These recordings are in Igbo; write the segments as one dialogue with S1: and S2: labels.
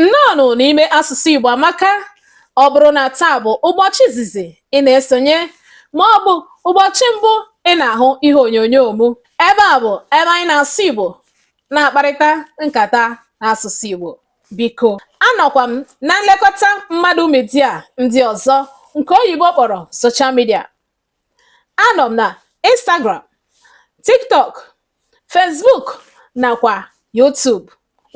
S1: Nnọọnụ n'ime asụsụ Igbo amaka ọ bụrụ na taa bụ ụbọchị izizi ị na-esonye ma ọ bụ ụbọchị mbụ ị na-ahụ ihe onyonyo m ebe a bụ ebe anyị na-asụ Igbo na-akparịta nkata n'asụsụ Igbo biko anọkwa m na nlekọta mmadụ media ndị ọzọ nke oyibo kpọrọ social media anọ m na Instagram TikTok Facebook nakwa YouTube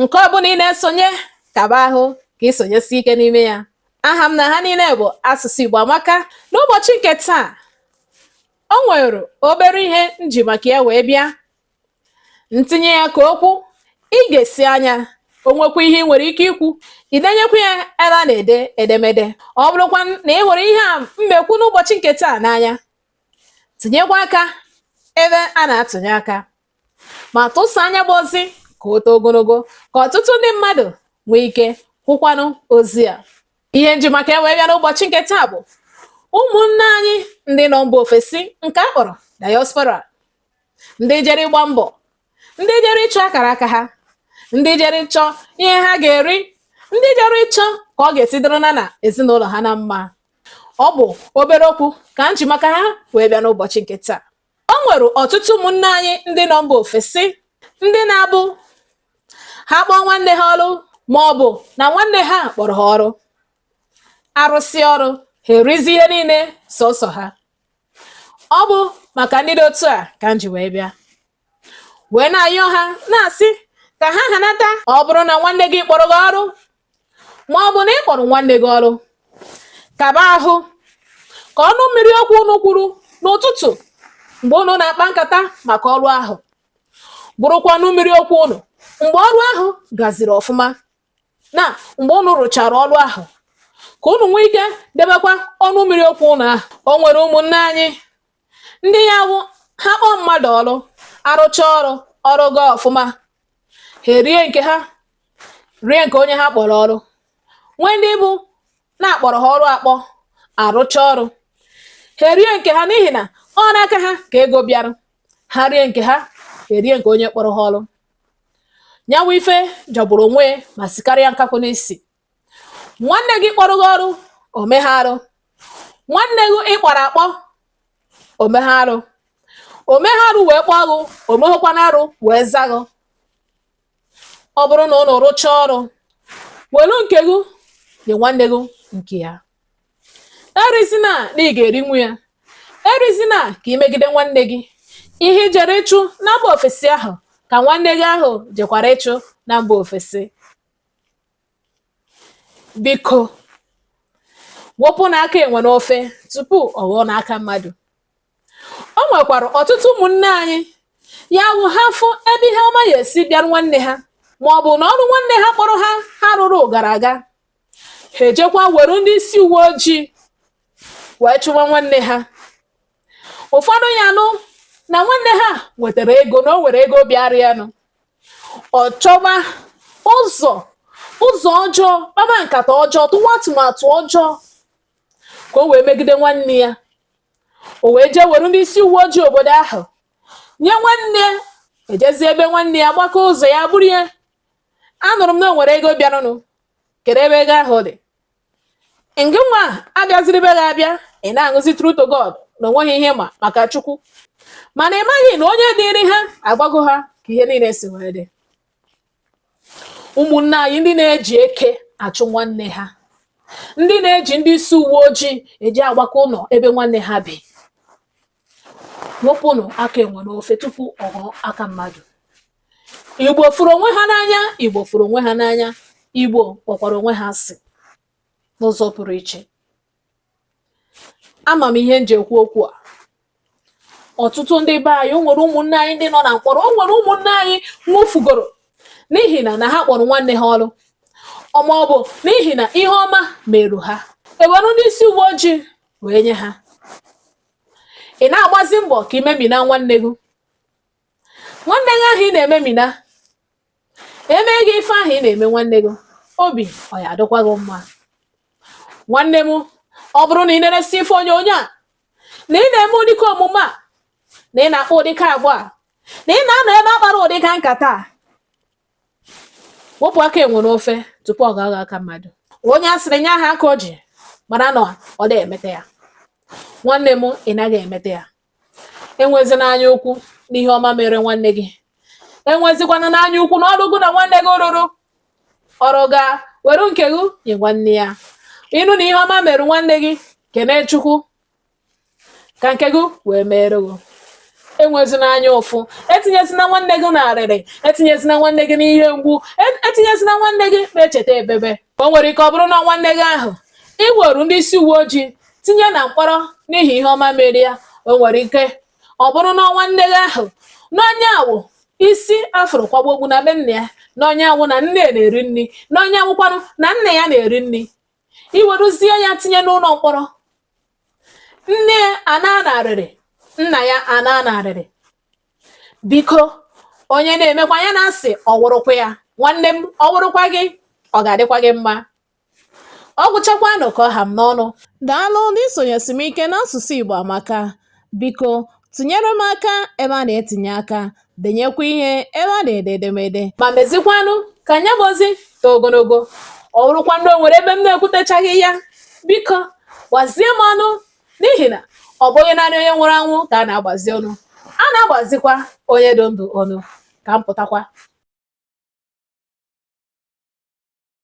S1: nke ọbụla ị na-esonye kaba ahụ ka ị sonyesi ike n'ime ya aha m na ha niile bụ asụsụ Igbo amaka n'ụbọchị nke taa o nwere obere ihe m ji maka ya wee bịa m tinye ya ka o kwuo i gesịa nya o nwekwa ihe ị nwere ike ikwu ị denyekwa ya ebe a na-ede edemede ọ bụrụkwa na ị hụrụ ihe a m na-ekwu n'ụbọchị nke taa n'anya tinyekwa aka ebe a na-atụnye aka ma tụsaa nya bụ ozi ka o too ogologo ka ọtụtụ ndị mmadụ nwee ike hụkwanụ ozi a ihe m ji maka ya wee bịa n'ụbọchị nke taa bụ ụmụnne anyị ndị nọ mba ofesi nke a kpọrọ diaspora ndị jere ịgba mbọ ndị jere ịchọ akara aka ha ndị jere ịchọ ihe ha ga-eri ndị jere ịchọ ka ọ ga-esi dịrị ha na ezinụlọ ha na mma ọ bụ obere okwu ka m ji maka ha wee bịa n'ụbọchị nke taa o nwere ọtụtụ ụmụnne anyị ndị nọ mba ofesi ndị na-abụ ha kpọọ nwanne ha ọrụ ma ọ bụ na nwanne ha kpọrọ ha ọrụ a rụsịa ọrụ ha erizi ihe niile sọsọ ha ọ bụ maka ndị dị otu a ka m ji wee bịa wee na-ayọ ha na-asị ka ha hanata ọ bụrụ na nwanne gị kpọrọ gị ọrụ ma ọ bụ na ị kpọrọ nwanne gị ọrụ kaba ahụ ka ọnụ mmiri okwu unu kwuru n'ụtụtụ mgbe unu na-akpa nkata maka ọrụ ahụ bụrụkwa ọnụ mmiri okwu unu mgbe ọrụ ahụ gaziri ọfụma na mgbe unu rụchara ọrụ ahụ ka unu nwee ike debekwa ọnụ mmiri okwu unu ahụ o nwere ụmụnne anyị ndị ya wụ ha kpọọ mmadụ ọrụ a rụchaa ọrụ ọrụ gaa ọfụma ha erie nke ha rie nke onye ha kpọrọ ọrụ nwee ndị bụ na a kpọrọ ha ọrụ akpọ a rụchaa ọrụ ha erie nke ha n'ihi na ọ n'aka ha ka ego bịara ha rie nke ha erie nke onye kpọrọ ha ọrụ nya wụ ife jọgburu onwe ya ma sikarịa nkakwụ n'isi nwanne gị kpọrọ gị ọrụ o meghị arụ nwanne gị ị kpọrọ akpọ o meghị arụ o meghị arụ wee kpọọ gị o meghịkwanụ arụ wee za gị ọ bụrụ na unu rụchaa ọrụ welu nke gị nye nwanne gị nke ya erizina na ị ga-erinwu ya erizina ka imegide nwanne gị ihe i jere ịchụ na mba ofesi ahụ ka nwanne gị ahụ jekwara ịchụ na mba ofesi biko wepụnụ aka enwe n'ofe tupu ọ ghọọ n'aka mmadụ o nwekwara ọtụtụ ụmụnne anyị ya wụ ha fụ ebe ihe ọma ya-esi bịarụ nwanne ha ma ọ bụ na ọrụ nwanne ha kpọrọ ha ha rụrụ gara aga ha ejekwa were ndị isi uwe ojii wee chụwa nwanne ha ụfọdụ ya nụ na nwanne ha nwetara ego na o nwere ego bịara ya nụ ọ chọwa ụzọ ụzọ ọjọọ kpaba nkata ọjọọ tụwa atụmatụ ọjọọ ka o wee megide nwanne ya o wee jee were ndị isi uwe ojii obodo ahụ nye nwanne ejezie ebe nwanne ya gbakaa ụzọ ya buru ya anụrụ m na o nwere ego bịaranụ kedu ebe ego ahụ dị ngị nwa abịaziri be gị abịa ị na-aṅụzi true to God na o nweghị ihe m ma maka Chukwu mana ị maghị na onye ziri ha agwago ha ka ihe niile si wee dị ụmụnne anyị ndị na-eji eke achụ nwanne ha ndị na-eji ndị isi uwe ojii eji agbaka ụlọ ebe nwanne ha bi wepụnụ aka enwe n'ofe tupu ọ ghọọ aka mmadụ igbo fụrụ onwe ha n'anya igbo fụrụ onwe ha n'anya igbo kpọkwara onwe ha asị n'ụzọ pụrụ iche ama m ihe m ji ekwu okwu a ọtụtụ ndị be anyị o nwere ụmụnne anyị ndị nọ na mkpọrọ o nwere ụmụnne anyị nwụfugoro n'ihi na na ha kpọrọ nwanne ha ọrụ ọ ma ọ bụ n'ihi na ihe ọma merụ ha ewere ndị isi uwe ojii wee nye ha ị na-agbazi mbọ ka i memina nwanne gị nwanne gị ahụ ị na-ememina e mee gị ife ahụ ị na-eme nwanne gị obi ọ ya-adịkwa gị mma nwanne m ọ bụrụ na ị na-eresi ife onyonyo a na ị na-eme ụdịka omume a na ị na-akpa ụdịka agwa a na ị na-anọ ebe a kpara ụdịka nkata a wepụ aka enwe n'ofe tupu ọ ga-aghọ aka mmadụ onye a sịrị nya haa aka o ji mara na ọ da-emeta ya nwanne m ị naghị emeta ya enwezina anya ukwu n'ihe ọma mere nwanne gị enwezikwana anya ukwu na ọrụ gị na nwanne gị rụrụ ọrụ ga were nke gị nye nwanne ya ị nụ na ihe ọma mere nwanne gị kene chukwu ka nke gị wee meere gị enwezina anya ụfụ etinyezina nwanne gị n'arịrị etinyezina nwanne gị n'ihe mgbu e- etinyezina nwanne gị n'echeta ebebe o nwere ike ọ bụrụ na nwanne gị ahụ i weru ndị isi uwe ojii tinye na mkpọrọ n'ihi ihe ọma mere ya o nwere ike ọ bụrụ na nwanne gị ahụ na ọ nya wụ isi a fụrụ kwaba okpu na be nna ya na ọ nya wụ na nne ya na-eri nri na ọ nya wụkwanụ na nna ya na-eri nri i weruzie ya tinye n'ụlọ mkpọrọ nne ya anaa n'arịrị nna ya anaa n'arịrị biko onye na-emekwa ya na-asị ọ wụrụkwa ya nwanne m ọ wụrụkwa gị ọ ga-adịkwa gị mma ọ gwụchakwanụ ka ọ ha m n'ọnụ daalụ ndị sonyesiri m ike n'asụsụ Igbo amaka Biko tinyere m aka ebe a na-etinye aka, denyekwa ihe ebe a na-ede edemede. Ma mezikwanụ ka nya bụ ozi too ogologo. Ọ bụrụkwa na o nwere ebe m na-ekwutechaghị ya, biko gbazie m ọnụ n'ihi na ọ bụghị naanị onye nwụrụ anwụ ka a na-agbazi ọnụ. A na-agbazikwa onye dị ndụ ọnụ. Ka m pụtakwa.